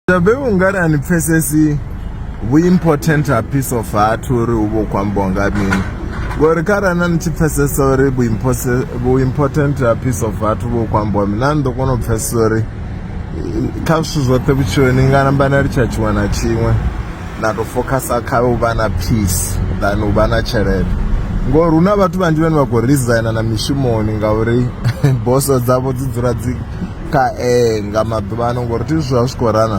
Tabe ungari ani pfesesi vhu important ha piece of heart uri u vho kwambo nga mini ngori kharali na ni tshi pfesesa uri vhu important ha piece of heart u vho kwambo mini na ni ḓo kona u pfesesa uri kha zwithu zwoṱhe vhutshiloni nga namba na litsha tshiṅwe na tshiṅwe na tou focusa kha u vha na peace than u vha na tshelede ngori hu na vhathu vhanzhi vhane vha khou resigner na mishumoni ngauri boso dzavho dzi dzula dzi kha e nga maḓuvha ano ngori thi zwi a zwi khou rana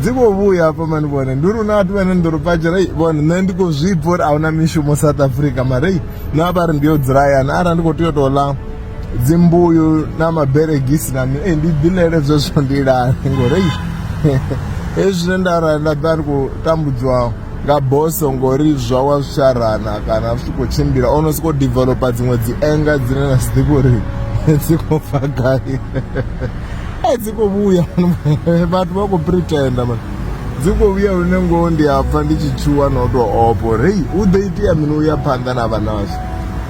dzi khou vhuya hafha mani vhone ndi uri una vhathu vhane ndi ri padzhela vhone nṋe ndi khou zwi bva uri a huna mishumo south africa mare na vha ri ndi yo dzula hayani arali ndi khou tea u tou ḽa dzimbuyu na maberegisi na mini ndi ḓilele zwezwo ndi lale ngori hezwi zwine nda ra nda ḓa ndi khou tambudzwaho nga boso ngori zwa wa sharana kana zwi khou tshimbila o no sokou developa dziṅwe dzi enga dzine na si ḓivhi uri dzi khou bva gai eh, dzi khou vhuya vhathu vha khou pretenda man dzi khou vhuya lune ngoho ndi a pfa ndi tshi tshuwa na u tou opo ri hu ḓo itea mini u ya phanḓa na vha nazwo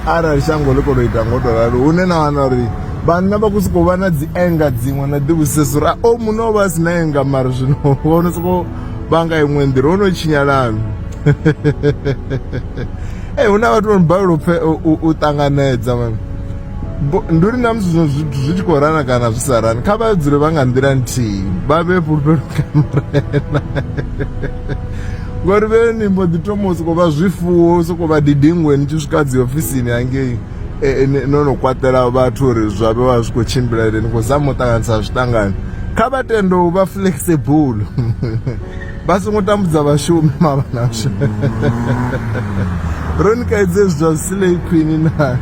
arali shango ḽi khou tou ita ngo tou ralo hune na wana uri vhanna vha khou sokou vha na dzi enga dziṅwe na ḓivhusesa uri a o muno o vha a si na enga mara zwino wo no sokou vha nga iṅwe nḓila ho no tshinyalanu e hu na vhathu vho no balelwa upfe u ṱanganedza vhana ndi uri na musi zwi tshi khou rana kana zwi sa rani kha vha dzule vha nga nḓila nthihi vha vhe fhulufhelo kha murena ngori vhe ni mbo ḓi thoma u sokou vha zwifuwo u sokou vha didingwe ni tshi swika dzi ofisini hangei eh, eh, no no kwatela vhathu uri zwa vhe vha zwi khou tshimbila ri ni khou zama u ṱanganisa zwiṱangani kha vha tende u vha flexible vha songo tambudza vhashumi mavhanasho ro ni kaidze zwithu zwa silei khwini na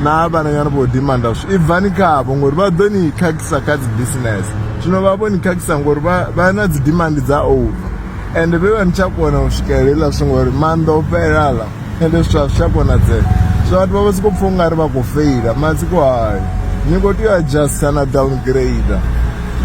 na vhananyana vho dimanda zwi ibvani khavho ngori vha ḓo ni khakhisa kha dzi business zwino vha vho ni khakhisa ngori vha na dzi dimandi dza over ende vhe vha ni tsha kona u swikelela zwi ngori maanḓa o fhelala ende zwithu a zwi tsha konadzea so vhathu vha vha sokou pfha ungari vha khou feila matsiko hayo ni khou tea u adjusta na downgrade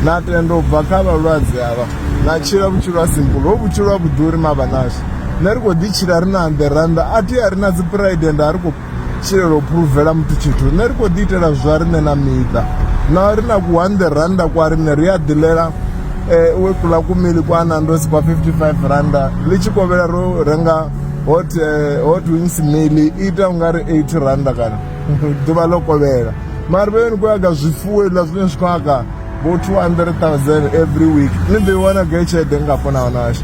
na tenda u bva kha vhalwadze avha na tshila vhutshilo ha simple ho vhutshilo ha vhuḓuri mavha nasho nṋe ri khou ḓi tshila ri na amberanda a thi a ri na dzi pride and a ri khou tshilela u phuruvela muthu tshithu nṋe ri khou ḓi itela zwa riṋe na miṱa na ri na ku one randa kwa riṋe ri a ḓilela um eh, we kula kumili kwa nando si kwa 55 randa ḽi tshi kovhela ro renga hot eh, hot wings mili ita ungari 8 randa kana ḓuvha ḽo kovhela mari vheni ku yaga zwifuwo iḽa zwine zwi khou aka bo 200000 every week ni ḓo i wana gai tshelede ngafho na wanasha